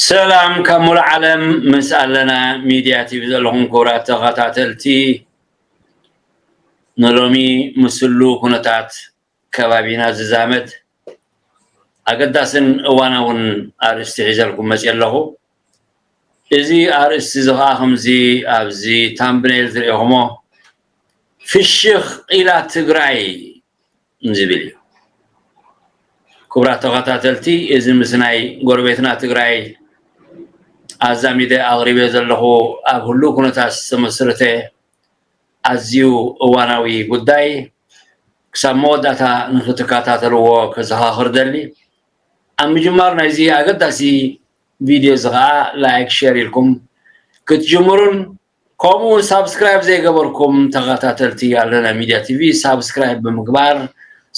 ሰላም ካብ ሙሉእ ዓለም ምስ ኣለና ሚድያ ቲቪ ዘለኹም ክቡራት ተኸታተልቲ ንሎሚ ምስሉ ኩነታት ከባቢና ዝዛመድ ኣገዳስን እዋናውን ኣርእስቲ ሒዘልኩም መጺኤ ኣለኹ። እዚ ኣርእስቲ እዚ ከኣ ከምዚ ኣብዚ ታምብነይል ዝርኤኹሞ ፍሽኽ ኢላ ትግራይ ዝብል እዩ። ክቡራት ተኸታተልቲ እዚ ምስ ናይ ጎረቤትና ትግራይ ኣዛሚደ ኣቕሪበዮ ዘለኹ ኣብ ህሉው ኩነታት ዝተመስረተ ኣዝዩ እዋናዊ ጉዳይ ክሳብ መወዳእታ ንኽትከታተልዎ ከዘኻኽር እደሊ። ኣብ ምጅማር ናይዚ ኣገዳሲ ቪድዮ እዚ ከኣ ላይክ ሼር ኢልኩም ክትጅምሩን ከምኡ ውን ሳብስክራይብ ዘይገበርኩም ተኸታተልቲ ኣለና ሚድያ ቲቪ ሳብስክራይብ ብምግባር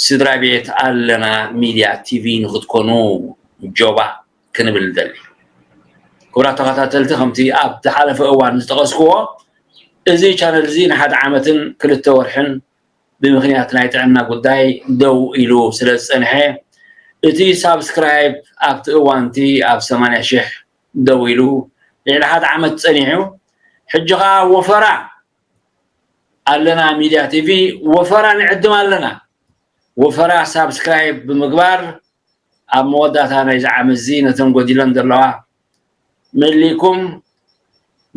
ስድራ ቤት ኣለና ሚድያ ቲቪ ንኽትኮኑ ጆባእ። ክንብል ንደሊ። ክቡራት ተኸታተልቲ ከምቲ ኣብ ዝሓለፈ እዋን ዝጠቐስክዎ እዚ ቻነል እዚ ንሓደ ዓመትን ክልተ ወርሕን ብምክንያት ናይ ጥዕና ጉዳይ ደው ኢሉ ስለ ዝጸንሐ እቲ ሳብስክራይብ ኣብቲ እዋንቲ ኣብ 80 ሽሕ ደው ኢሉ ልዕሊ ሓደ ዓመት ጸኒሑ ሕጂ ኸዓ ወፈራ ኣለና ሚድያ ቲቪ ወፈራ ንዕድም ኣለና ወፈራ ሳብስክራይብ ብምግባር ኣብ መወዳእታ ናይዚ ዓመት እዚ ነተን ጎዲለን ዘለዋ መሊእኩም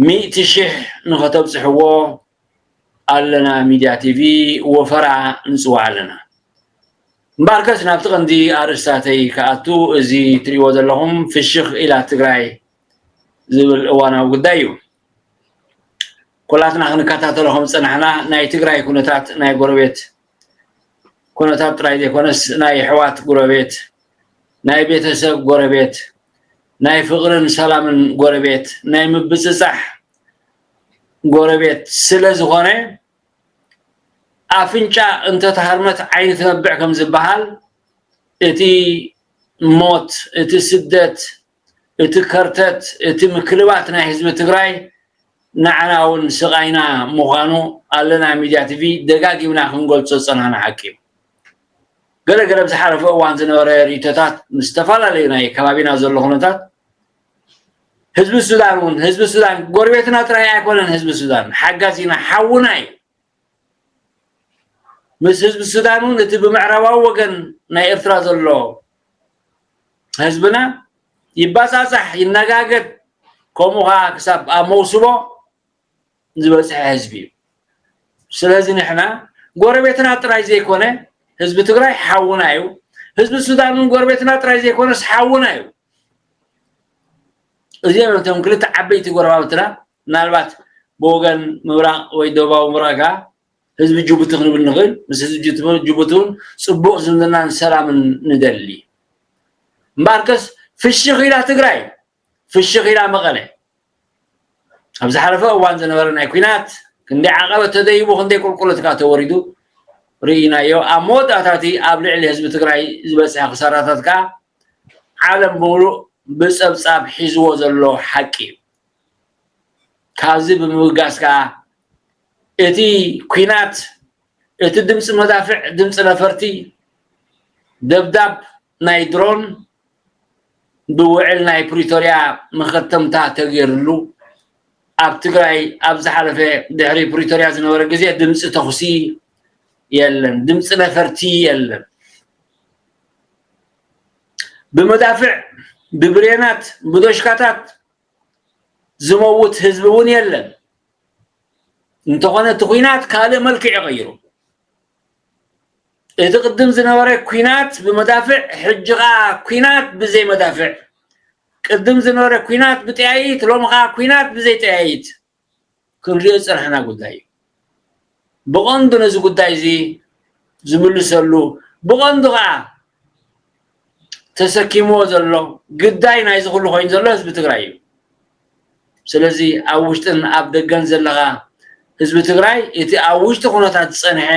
ሚእቲ ሽሕ ንኸተብጽሕዎ ኣለና ሚድያ ቲቪ ወፈራ ንጽዋዕ ኣለና። እምበኣርከስ ናብቲ ቀንዲ ኣርእስታተይ ክኣቱ እዚ ትርእይዎ ዘለኹም ፍሽኽ ኢላ ትግራይ ዝብል እዋናዊ ጉዳይ እዩ። ኩላትና ክንከታተሎ ከም ዝጸናሕና ናይ ትግራይ ኩነታት ናይ ጎረቤት ኩነታት ጥራይ ዘይኮነስ ናይ ኣሕዋት ጎረቤት ናይ ቤተሰብ ጎረቤት ናይ ፍቕርን ሰላምን ጎረቤት ናይ ምብፅፃሕ ጎረቤት ስለ ዝኾነ ኣፍንጫ እንተተሃርመት ዓይኒ ትነብዕ ከም ዝበሃል እቲ ሞት እቲ ስደት እቲ ከርተት እቲ ምክልባት ናይ ህዝቢ ትግራይ ናዕና ውን ስቃይና ምኳኑ ኣለና ሚድያ ቲቪ ደጋጊምና ክንገልፆ ዝፀናሕና ሓቂ እዩ። ገለ ገለ ኣብ ዝሓለፈ እዋን ዝነበረ ሪኢቶታት ምስ ዝተፈላለዩ ናይ ከባቢና ዘሎ ኩነታት ህዝቢ ሱዳን ውን ህዝቢ ሱዳን ጎረቤትና ጥራይ ኣይኮነን ህዝቢ ሱዳን ሓጋዚና ሓውና እዩ። ምስ ህዝቢ ሱዳን እውን እቲ ብምዕራባዊ ወገን ናይ ኤርትራ ዘሎ ህዝብና ይባጻጻሕ ይነጋገድ ከምኡ ከዓ ክሳብ ኣብ መውስቦ ዝበፅሐ ህዝቢ እዩ ስለዚ ንሕና ጎረቤትና ጥራይ ዘይኮነ ህዝቢ ትግራይ ሓውና እዩ ህዝቢ ሱዳን እውን ጎረቤትና ጥራይ ዘይኮነስ ሓውና እዩ እዚኦም እቶም ክልተ ዓበይቲ ጎረባብትና ምናልባት ብወገን ምብራቕ ወይ ደቡባዊ ምብራቕ ከኣ ህዝቢ ጅቡቲ ክንብል ንኽእል፣ ምስ ህዝቢ ጅቡቲ እውን ጽቡቕ ዝምድናን ሰላምን ንደሊ። እምበኣርከስ ፍሽኽ ኢላ ትግራይ፣ ፍሽኽ ኢላ መቐለ። ኣብ ዝሓለፈ እዋን ዝነበረ ናይ ኲናት ክንደይ ዓቐበት ተደይቡ ክንደይ ቁልቁለት ከኣ ተወሪዱ ርኢናዮ። ኣብ መወዳእታ እቲ ኣብ ልዕሊ ህዝቢ ትግራይ ዝበጽሐ ክሳራታት ከኣ ዓለም ብምሉእ ብጸብጻብ ሒዝዎ ዘሎ ሓቂ እዩ። ካብዚ ብምብጋስ ከዓ እቲ ኲናት እቲ ድምፂ መዳፍዕ ድምፂ ነፈርቲ ደብዳብ ናይ ድሮን ብውዕል ናይ ፕሪቶርያ መኸተምታ ተገይርሉ ኣብ ትግራይ ኣብ ዝሓለፈ ድሕሪ ፕሪቶርያ ዝነበረ ግዜ ድምፂ ተኹሲ የለን ድምፂ ነፈርቲ የለን ብመዳፍዕ ብብሬናት ብዶሽካታት ዝመውት ህዝቢ እውን የለን እንተኾነ እቲ ኩናት ካልእ መልክዕ ይቐይሩ እቲ ቅድም ዝነበረ ኩናት ብመዳፍዕ ሕጂ ከዓ ኩናት ብዘይ መዳፍዕ ቅድም ዝነበረ ኩናት ብጠያይት ሎሚ ከዓ ኩናት ብዘይ ጠያይት ክንሪኦ ዝጸናሕና ጉዳይ እዩ። ብቐንዱ ነዚ ጉዳይ እዚ ዝምልሰሉ ብቐንዱ ከኣ ተሰኪምዎ ዘሎ ግዳይ ናይዚ ኩሉ ኮይኑ ዘሎ ህዝቢ ትግራይ እዩ። ስለዚ ኣብ ውሽጥን ኣብ ደገን ዘለኻ ህዝቢ ትግራይ እቲ ኣብ ውሽጢ ኩነታት ዝጸንሐ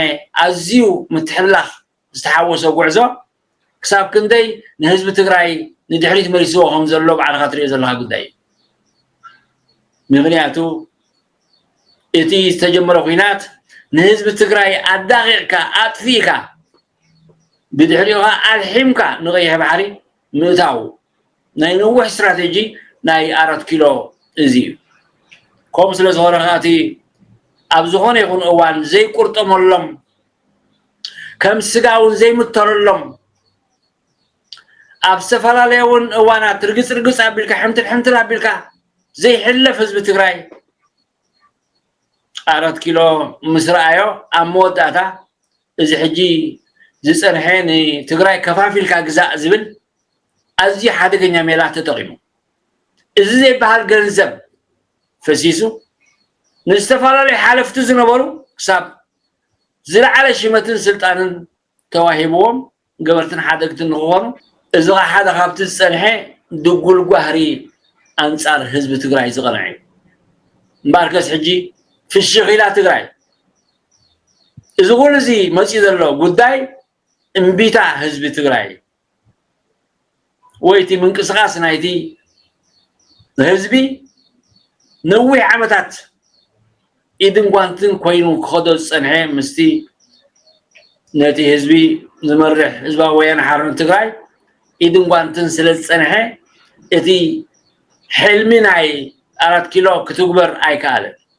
ኣዝዩ ምትሕልላኽ ዝተሓወሶ ጉዕዞ ክሳብ ክንደይ ንህዝቢ ትግራይ ንድሕሪት መሊስዎ ከም ዘሎ ባዕልኻ ትሪኦ ዘለኻ ጉዳይ እዩ ምክንያቱ እቲ ዝተጀመረ ኩናት ንህዝቢ ትግራይ ኣዳቂቕካ ኣጥፊእካ ብድሕሪኡ ኸዓ ኣልሒምካ ንቀይሕ ባሕሪ ምእታው ናይ ነዊሕ ስትራቴጂ ናይ ኣራት ኪሎ እዚ እዩ ከምኡ ስለ ዝኾነ ኸዓ እቲ ኣብ ዝኾነ ይኹን እዋን ዘይቁርጠመሎም ከም ስጋ እውን ዘይምተረሎም ኣብ ዝተፈላለየ እውን እዋናት ርግፅ ርግፅ ኣቢልካ ሕምትል ሕምትል ኣቢልካ ዘይሕለፍ ህዝቢ ትግራይ ኣራት ኪሎ ምስ ረኣዮ ኣብ መወዳእታ እዚ ሕጂ ዝፀንሐ ንትግራይ ከፋፊልካ ግዛእ ዝብል ኣዝዩ ሓደገኛ ሜላ ተጠቂሙ እዚ ዘይበሃል ገንዘብ ፈሲሱ ንዝተፈላለዩ ሓለፍቲ ዝነበሩ ክሳብ ዝለዓለ ሽመትን ስልጣንን ተዋሂብዎም ገበርትን ሓደግትን ንክኾኑ እዚ ኸዓ ሓደ ካብቲ ዝፀንሐ ድጉል ጓህሪ ኣንፃር ህዝቢ ትግራይ ዝቐንዐ እዩ። እምበኣርከስ ሕጂ ፍሽኽ ኢላ ትግራይ። እዚ ኩሉ እዚ መፂኡ ዘሎ ጉዳይ እምቢታ ህዝቢ ትግራይ ወይ እቲ ምንቅስቓስ ናይቲ ህዝቢ ነዊሕ ዓመታት ኢድን ጓንትን ኮይኑ ክኸዶ ዝፀንሐ ምስቲ ነቲ ህዝቢ ዝመርሕ ህዝባዊ ወያነ ሓርነት ትግራይ ኢድን ጓንትን ስለ ዝፀንሐ እቲ ሕልሚ ናይ ኣራት ኪሎ ክትግበር ኣይከኣለን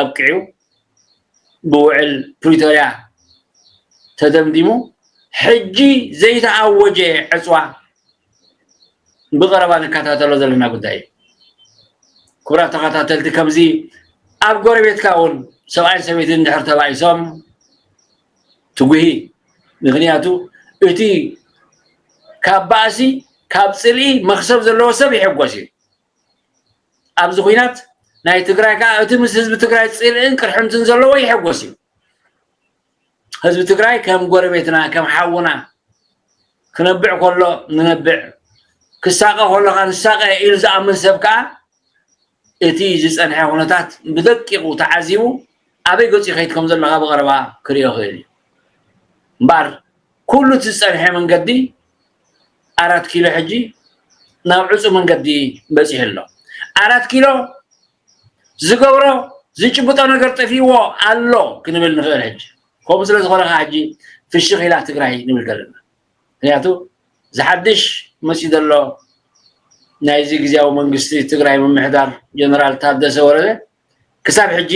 ኣብቂዑ ብውዕል ፕሪቶርያ ተደምዲሙ ሕጂ ዘይተኣወጀ ዕፅዋ ብቐረባ ንከታተሎ ዘለና ጉዳይ እዩ። ክቡራት ተኸታተልቲ ከምዚ ኣብ ጎረቤትካ እውን ሰብኣይን ሰበይትን ድሕር ተባኢሶም ትጉሂ ምክንያቱ እቲ ካብ ባእሲ ካብ ፅልኢ መክሰብ ዘለዎ ሰብ ይሕጎስ እዩ ኣብዚ ኩናት ናይ ትግራይ ከዓ እቲ ምስ ህዝቢ ትግራይ ፅልእን ቅርሕንትን ዘለዎ ይሕጎስ እዩ ህዝቢ ትግራይ ከም ጎረቤትና ከም ሓውና ክነብዕ ከሎ ንነብዕ ክሳቀ ከሎ ከዓ ንሳቀ ኢሉ ዝኣምን ሰብ ከዓ እቲ ዝፀንሐ ኩነታት ብደቂቁ ተዓዚቡ ኣበይ ገፁ ይኸይድ ከም ዘሎ ካብ ቀረባ ክሪኦ ይኽእል እዩ እምበኣር ኩሉ እቲ ዝፀንሐ መንገዲ ኣራት ኪሎ ሕጂ ናብ ዕፁ መንገዲ በፂሑ ኣሎ ኣራት ኪሎ ዝገብሮ ዝጭብጦ ነገር ጠፊዎ ኣሎ ክንብል ንኽእል ሕጂ ከምኡ ስለ ዝኾነ ከዓ ሕጂ ፍሽኽ ኢላ ትግራይ ንብል ዘለና ምክንያቱ ዝሓድሽ መፅኡ ዘሎ ናይዚ ግዜያዊ መንግስቲ ትግራይ ምምሕዳር ጀነራል ታደሰ ወረደ ክሳብ ሕጂ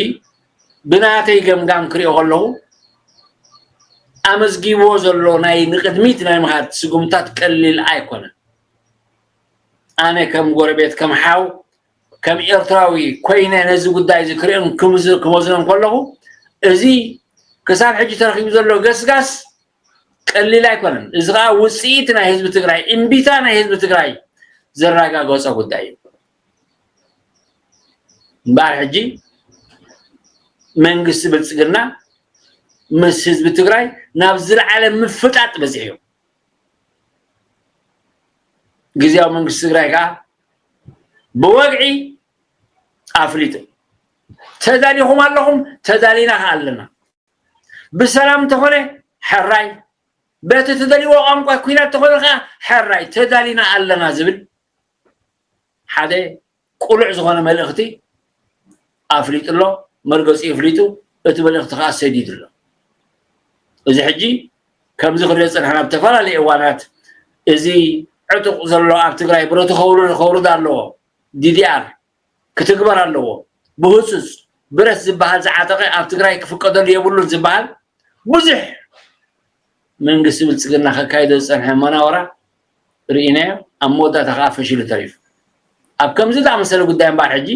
ብናተይ ገምጋም ክሪኦ ከለኹ ኣመዝጊብዎ ዘሎ ናይ ንቅድሚት ናይ ምኻድ ስጉምታት ቀሊል ኣይኮነን ኣነ ከም ጎረቤት ከም ሓው ከም ኤርትራዊ ኮይነ ነዚ ጉዳይ እዚ ክሪኦን ክመዝኖን ከለኹ እዚ ክሳብ ሕጂ ተረኪቡ ዘሎ ገስጋስ ቀሊል ኣይኮነን እዚ ከዓ ውፅኢት ናይ ህዝቢ ትግራይ እምቢታ ናይ ህዝቢ ትግራይ ዘረጋገፆ ጉዳይ እዩ እምበኣር ሕጂ መንግስቲ ብልፅግና ምስ ህዝቢ ትግራይ ናብ ዝለዓለ ምፍጣጥ በፂሑ እዩ ግዜያዊ መንግስቲ ትግራይ ከዓ ብወግዒ ኣፍሊጡ ተዳሊኹም ኣለኹም ተዳሊና ከዓ ኣለና ብሰላም እንተኾነ ሕራይ በቲ ትደልይዎ ቋንቋ ኩናት ተኾነ ከዓ ሕራይ ተዳሊና ኣለና ዝብል ሓደ ቁሉዕ ዝኮነ መልእክቲ ኣፍሊጡ ኣሎ መርገጺኡ ኣፍሊጡ እቲ መልእክቲ ከኣ ሰዲዱ ኣሎ እዚ ሕጂ ከምዚ ክንሪኦ ዝጸናሕና ኣብ ተፈላለየ እዋናት እዚ ዕጡቅ ዘሎ ኣብ ትግራይ ብረቱ ከውርድ ኣለዎ ዲዲኣር ክትግበር ኣለዎ ብህፁፅ ብረት ዝባሃል ዝዓጠቀ ኣብ ትግራይ ክፍቀደሉ የብሉን ዝባሃል ብዙሕ መንግስቲ ብልፅግና ከካይዶ ዝፀንሐ መናውራ ርኢናዮ ኣብ መወዳእታ ከዓ ፈሽሉ ተሪፉ ኣብ ከምዚ ዝኣመሰለ ጉዳይ እምበኣር ሕጂ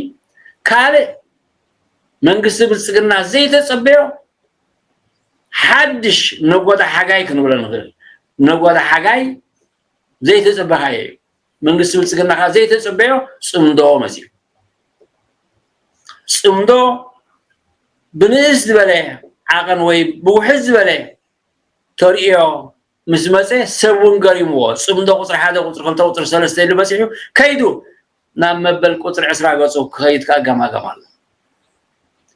ካልእ መንግስቲ ብልፅግና ዘይተፀበዮ ሓድሽ ነጎዳ ሓጋይ ክንብሎ ንኽእል ነጎዳ ሓጋይ ዘይተፀበኻዮ እዩ መንግስቲ ብልፅግና ከዓ ዘይተፅበዮ ፅምዶ መፂኡ ፅምዶ ብንእስ ዝበለ ዓቐን ወይ ብውሕድ ዝበለ ተርእዮ ምስ ዝመፀ ሰብ እውን ገሪምዎ ፅምዶ ቁፅሪ ሓደ ቁፅሪ ክልተ ቁፅሪ ሰለስተ ኢሉ በፂሑ ከይዱ ናብ መበል ቁፅሪ ዕስራ ገፁ ክኸይድ ከዓ ገማገም ኣሎ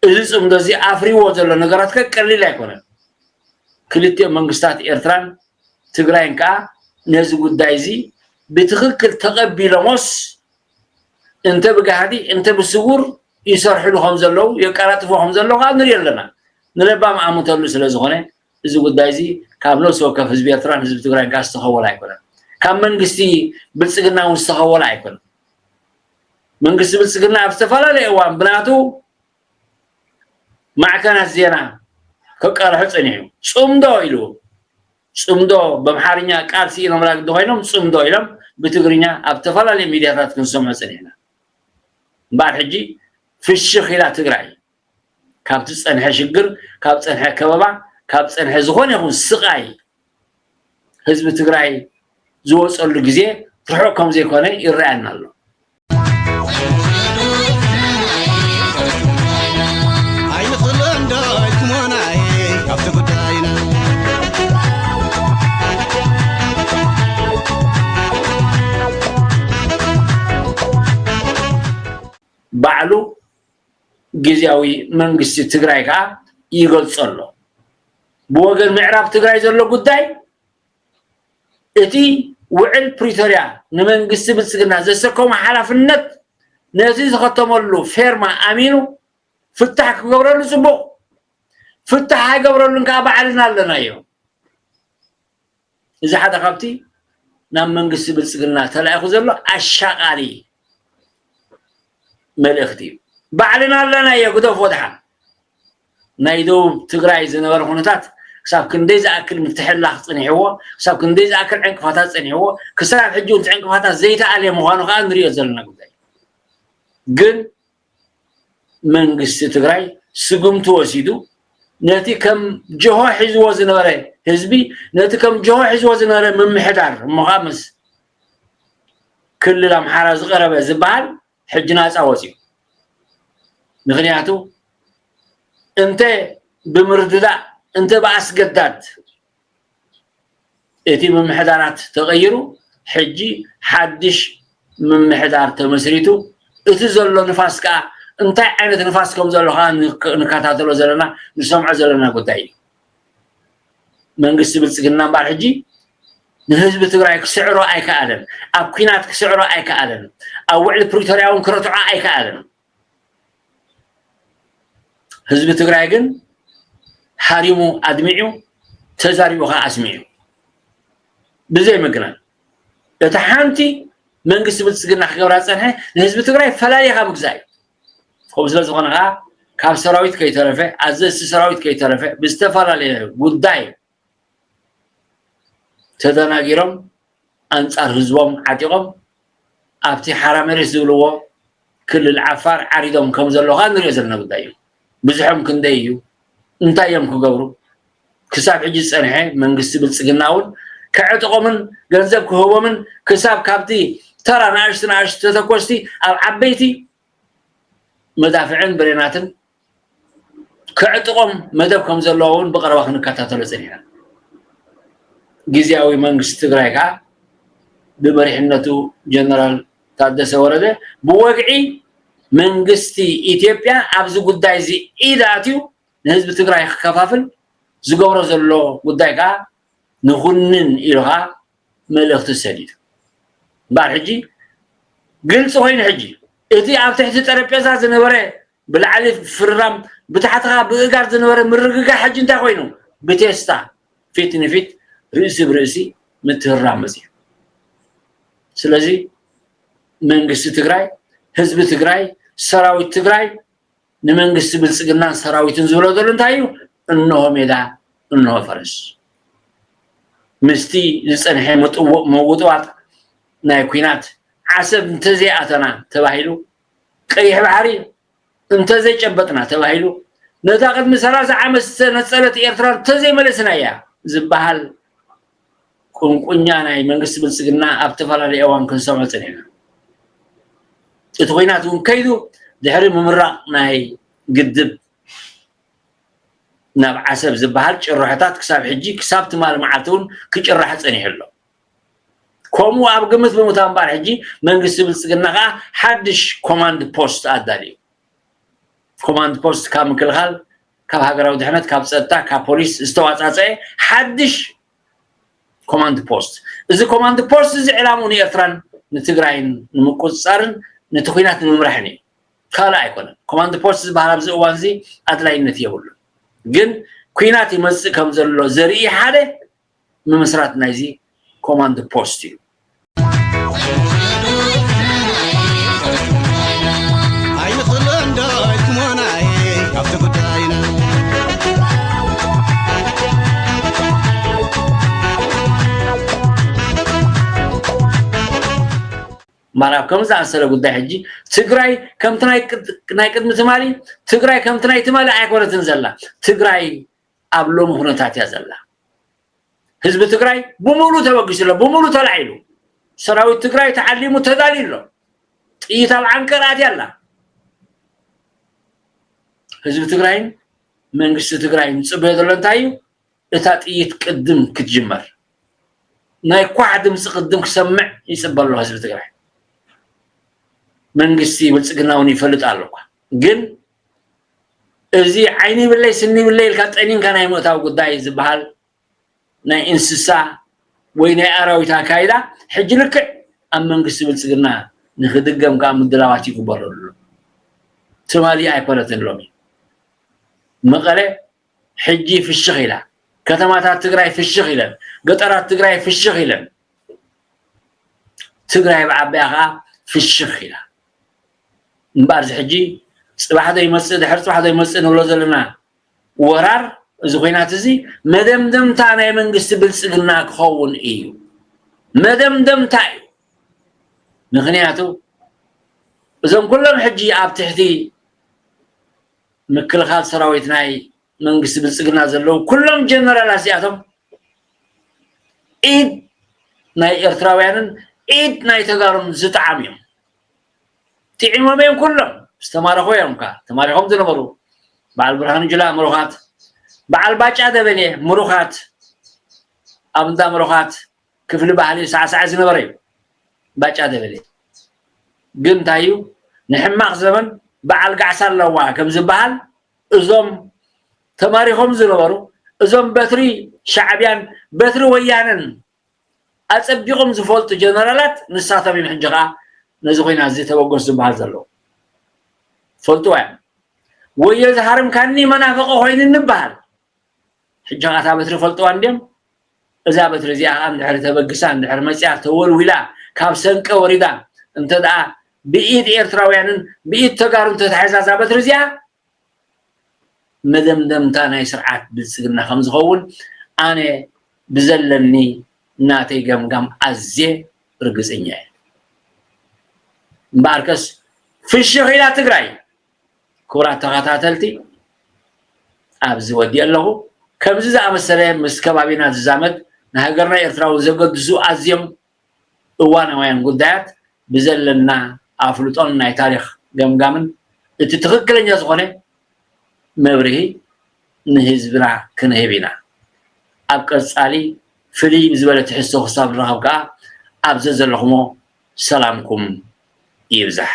እዚ ጽምዶ እዚ ኣፍሪዎ ዘሎ ነገራት ከ ቀሊል ኣይኮነን። ክልቲኦም መንግስታት ኤርትራን ትግራይን ከኣ ነዚ ጉዳይ እዚ ብትኽክል ተቐቢሎሞስ እንተ ብጋህዲ እንተ ብስዉር ይሰርሕሉ ከም ዘለዉ የቀላጥፍዎ ከም ዘለዉ ከኣ ንሪኦ ኣለና። ንለባም ኣምተሉ ስለ ዝኾነ እዚ ጉዳይ እዚ ካብ ነብሲ ወከፍ ህዝቢ ኤርትራን ህዝቢ ትግራይን ከኣ ዝተኸወለ ኣይኮነን። ካብ መንግስቲ ብልጽግና እውን ዝተኸወለ ኣይኮነን። መንግስቲ ብልፅግና ኣብ ዝተፈላለየ እዋን ብናቱ ማዕከናት ዜና ክቃልሖ ፀኒሑ ፅምዶ ኢሉ ፅምዶ በምሓርኛ ቃል ስኢኖምላ ግዲ ኮይኖም ፅምዶ ኢሎም ብትግርኛ ኣብ ተፈላለየ ሚድያታት ክንሰምዖ ፀኒሕና እምበኣር ሕጂ ፍሽኽ ኢላ ትግራይ ካብ ዝፀንሐ ሽግር ካብ ፀንሐ ከበባ ካብ ፀንሐ ዝኾነ ይኹን ስቓይ ህዝቢ ትግራይ ዝወፀሉ ግዜ ርሑቕ ከም ዘይኮነ ይረኣየና ኣሎ ባዕሉ ግዝያዊ መንግስቲ ትግራይ ከዓ ይገልፆ ኣሎ። ብወገን ምዕራብ ትግራይ ዘሎ ጉዳይ እቲ ውዕል ፕሪቶሪያ ንመንግስቲ ብልፅግና ዘሰከሞ ሓላፍነት ነቲ ዝኸተመሉ ፌርማ ኣሚኑ ፍታሕ ክገብረሉ ፅቡቕ ፍታሕ ኣይገብረሉን ከዓ ባዕልና ኣለናዮ። እዚ ሓደ ካብቲ ናብ መንግስቲ ብልፅግና ተላኢኹ ዘሎ ኣሻቓሊ መልእኽቲ እዩ። ባዕልና ኣለናዮ ግደፎ ድሓን። ናይ ደቡብ ትግራይ ዝነበረ ኩነታት ክሳብ ክንደይ ዝኣክል ምትሕላኽ ፀኒሕዎ፣ ክሳብ ክንደይ ዝኣክል ዕንቅፋታት ፀኒሕዎ፣ ክሳብ ሕጂ እቲ ዕንቅፋታት ዘይተኣልየ ምዃኑ ከዓ ንሪኦ ዘለና ጉዳይ ግን መንግስቲ ትግራይ ስጉምቲ ወሲዱ ነቲ ከም ጀሆ ሒዝዎ ዝነበረ ህዝቢ ነቲ ከም ጀሆ ሒዝዎ ዝነበረ ምምሕዳር እሞ ከዓ ምስ ክልል ኣምሓራ ዝቐረበ ዝበሃል ሕጂ ናፃ ወፅዩ ምክንያቱ እንተ ብምርድዳእ እንተ ብኣስገዳድ እቲ ምምሕዳራት ተቐይሩ ሕጂ ሓድሽ ምምሕዳር ተመስሪቱ እቲ ዘሎ ንፋስ ከዓ እንታይ ዓይነት ንፋስ ከም ዘሎ ከዓ ንከታተሎ ዘለና ንሰምዖ ዘለና ጉዳይ እዩ መንግስቲ ብልፅግና እምበኣር ሕጂ ንህዝቢ ትግራይ ክስዕሮ ኣይከኣለን ኣብ ኩናት ክስዕሮ ኣይከኣለን ኣብ ውዕሊ ፕሪቶርያ እውን ክረትዖ ኣይከኣለን ህዝቢ ትግራይ ግን ሃሪሙ ኣድሚዑ ተዛሪቡ ከዓ ኣስሚዑ ብዘይ ምግናን እቲ ሓንቲ መንግስቲ ብልፅግና ክገብራ ዝፀንሐ ንህዝቢ ትግራይ ፈላሊኻ ምግዛእ እዩ ከምኡ ስለ ዝኾነ ከዓ ካብ ሰራዊት ከይተረፈ ኣዘዝቲ ሰራዊት ከይተረፈ ብዝተፈላለየ ጉዳይ ተደናጊሮም ኣንፃር ህዝቦም ዓጢቖም ኣብቲ ሓራ መሬት ዝብልዎ ክልል ዓፋር ዓሪዶም ከም ዘሎ ከዓ ንሪኦ ዘለና ጉዳይ እዩ ብዙሖም ክንደይ እዩ እንታይ እዮም ክገብሩ ክሳብ ሕጂ ዝፀንሐ መንግስቲ ብልፅግና እውን ከዕጥቖምን ገንዘብ ክህቦምን ክሳብ ካብቲ ተራ ንኣሽቲ ንኣሽቲ ተተኮስቲ ኣብ ዓበይቲ መዳፍዕን ብሬናትን ከዕጥቖም መደብ ከም ዘለዎ እውን ብቐረባ ክንከታተሎ ፀኒሕና። ግዝያዊ መንግስቲ ትግራይ ከዓ ብመሪሕነቱ ጀነራል ታደሰ ወረደ ብወግዒ መንግስቲ ኢትዮጵያ ኣብዚ ጉዳይ እዚ ኢድ ኣትዩ ንህዝቢ ትግራይ ክከፋፍል ዝገብሮ ዘሎ ጉዳይ ከዓ ንኹንን ኢሉ ከዓ መልእኽቲ ሰዲዱ እምበኣር ሕጂ ግልፂ ኮይኑ ሕጂ እቲ ኣብ ትሕቲ ጠረጴዛ ዝነበረ ብላዕሊ ፍርራም ብታሕትኻ ብእጋር ዝነበረ ምርግጋእ ሕጂ እንታይ ኮይኑ ብቴስታ ፊት ንፊት ርእሲ ብርእሲ ምትህራም መፅዩ ስለዚ መንግስቲ ትግራይ ህዝቢ ትግራይ ሰራዊት ትግራይ ንመንግስቲ ብልፅግናን ሰራዊትን ዝብሎ ዘሎ እንታይ እዩ እንሆ ሜዳ እንሆ ፈረስ ምስቲ ዝፀንሐ መውጥዋጥ ናይ ኩናት ዓሰብ እንተዘይኣተና ተባሂሉ ቀይሕ ባሕሪ እንተዘይጨበጥና ተባሂሉ ነታ ቅድሚ ሰላሳ ዓመት ዝተነፀለት ኤርትራ እንተዘይመለስና እያ ዝበሃል ቁንቁኛ ናይ መንግስቲ ብልፅግና ኣብ ዝተፈላለዩ እዋን ክንሰምዖ ፀኒሕና እቲ ኩናት እውን ከይዱ ድሕሪ ምምራቕ ናይ ግድብ ናብ ዓሰብ ዝበሃል ጭርሖታት ክሳብ ሕጂ ክሳብ ትማሊ መዓልቲ እውን ክጭራሕ ፀኒሑ ኣሎ ከምኡ ኣብ ግምት ብምእታው እምበኣር ሕጂ መንግስቲ ብልፅግና ከዓ ሓድሽ ኮማንድ ፖስት ኣዳልዩ ኮማንድ ፖስት ካብ ምክልኻል ካብ ሃገራዊ ድሕነት ካብ ፀጥታ ካብ ፖሊስ ዝተዋፃፀአ ሓድሽ ኮማንድ ፖስት እዚ ኮማንድ ፖስት እዚ ዕላምኡ ንኤርትራን ንትግራይን ንምቁፅፃርን ነቲ ኩናት ንምምራሕን እዩ ካልእ ኣይኮነን ኮማንድ ፖስት ዝበሃል ኣብዚ እዋን እዚ ኣድላይነት የብሉን ግን ኩናት ይመፅእ ከም ዘሎ ዘርኢ ሓደ ምምስራት ናይዚ ኮማንድ ፖስት እዩ ማራብ ከም ዝኣሰለ ጉዳይ ሕጂ ትግራይ ከምቲ ናይ ቅድሚ ትማሊ ትግራይ ከምቲ ናይ ትማሊ ኣይኮነትን ዘላ ትግራይ ኣብ ሎሚ ኩነታት እያ ዘላ ህዝቢ ትግራይ ብሙሉ ተበጊሱ ኣሎ ብሙሉ ተላዒሉ ሰራዊት ትግራይ ተዓሊሙ ተዳልዩ ኣሎ ጥይት ኣብ ዓንቀር ኣትያ ኣላ ህዝቢ ትግራይን መንግስቲ ትግራይን ዝፅበዮ ዘሎ እንታይ እዩ እታ ጥይት ቅድም ክትጅመር ናይ ኳዕ ድምፂ ቅድም ክሰምዕ ይፅበ ኣሎ ህዝቢ ትግራይ መንግስቲ ብልፅግና እውን ይፈልጥ ኣሎ እኳ ግን እዚ ዓይኒ ይብለይ ስኒ ይብለይ ኢልካ ጠኒንካ ናይ ምእታው ጉዳይ ዝበሃል ናይ እንስሳ ወይ ናይ ኣራዊት ኣካይዳ ሕጂ ልክዕ ኣብ መንግስቲ ብልፅግና ንክድገም ከዓ ምድላዋት ይግበረሉ ኣሎ ትማሊ ኣይኮነትን ሎሚ መቐለ ሕጂ ፍሽኽ ኢላ ከተማታት ትግራይ ፍሽኽ ኢለን ገጠራት ትግራይ ፍሽኽ ኢለን ትግራይ ብዓቢያ ከዓ ፍሽኽ ኢላ እምበኣር እዚ ሕጂ ፅባሕ ዶ ይመፅእ ድሕሪ ፅባሕ ዶ ይመፅእ ንብሎ ዘለና ወራር እዚ ኩናት እዚ መደምደምታ ናይ መንግስቲ ብልፅግና ክኸውን እዩ መደምደምታ እዩ ምክንያቱ እዞም ኩሎም ሕጂ ኣብ ትሕቲ ምክልኻል ሰራዊት ናይ መንግስቲ ብልፅግና ዘለዉ ኩሎም ጀነራላት እዚኣቶም ኢድ ናይ ኤርትራውያንን ኢድ ናይ ተጋሩን ዝጠዓም እዮም ጢዒሞም እዮም ኩሎም ዝተማረኹ እዮም እካ ተማሪኾም ዝነበሩ በዓል ብርሃኑ ጅላ ምሩኻት በዓል ባጫ ደበሌ ምሩኻት ኣብ እንዳ ምሩኻት ክፍሊ ባህሊ ሳዕሳዕ ዝነበረ እዩ ባጫ ደበሌ ግን እንታይ እዩ ንሕማቕ ዘመን በዓል ጋዕሳ ኣለዋ ከም ዝበሃል እዞም ተማሪኾም ዝነበሩ እዞም በትሪ ሻዕብያን በትሪ ወያነን ኣጸቢቖም ዝፈልጡ ጀነራላት ንሳቶም እዮም ሕጂ ከኣ ነዚ ኹናት እዚ ተበገሱ ዝበሃል ዘለዉ ፈልጥዋ እዮም ወዮ ዝሃርምካኒ መናፈቐ ኮይኑ እንበሃል ሕጂ ከኣ እታ በትሪ ፈልጥዋ እንድዮም እዛ በትሪ እዚኣ ከዓ እንድሕር ተበግሳ እንድሕር መፅያ ተወልዊላ ካብ ሰንቀ ወሪዳ እንተ ደኣ ብኢድ ኤርትራውያንን ብኢድ ተጋሩ እንተተሓዛ እዛ በትሪ እዚኣ መደምደምታ ናይ ስርዓት ብልፅግና ከምዝኸውን ኣነ ብዘለኒ ናተይ ገምጋም ኣዝየ ርግፅኛ እየ። እምበኣርከስ ፍሽኽ ኢላ ትግራይ። ክቡራት ተኸታተልቲ ኣብዚ ወዲእ ኣለኹ። ከምዚ ዝኣመሰለ ምስ ከባቢና ዝዛመድ ንሃገርና ኤርትራዊ ዘገድሱ ኣዝዮም እዋናውያን ጉዳያት ብዘለና ኣፍልጦን ናይ ታሪኽ ገምጋምን እቲ ትኽክለኛ ዝኾነ መብርሂ ንህዝብና ክንህብ ኢና። ኣብ ቀጻሊ ፍልይ ብዝበለ ትሕዝቶ ክሳብ ንራኸብ ከኣ ኣብ ዘዘለኹሞ ሰላምኩም ይብዛሕ።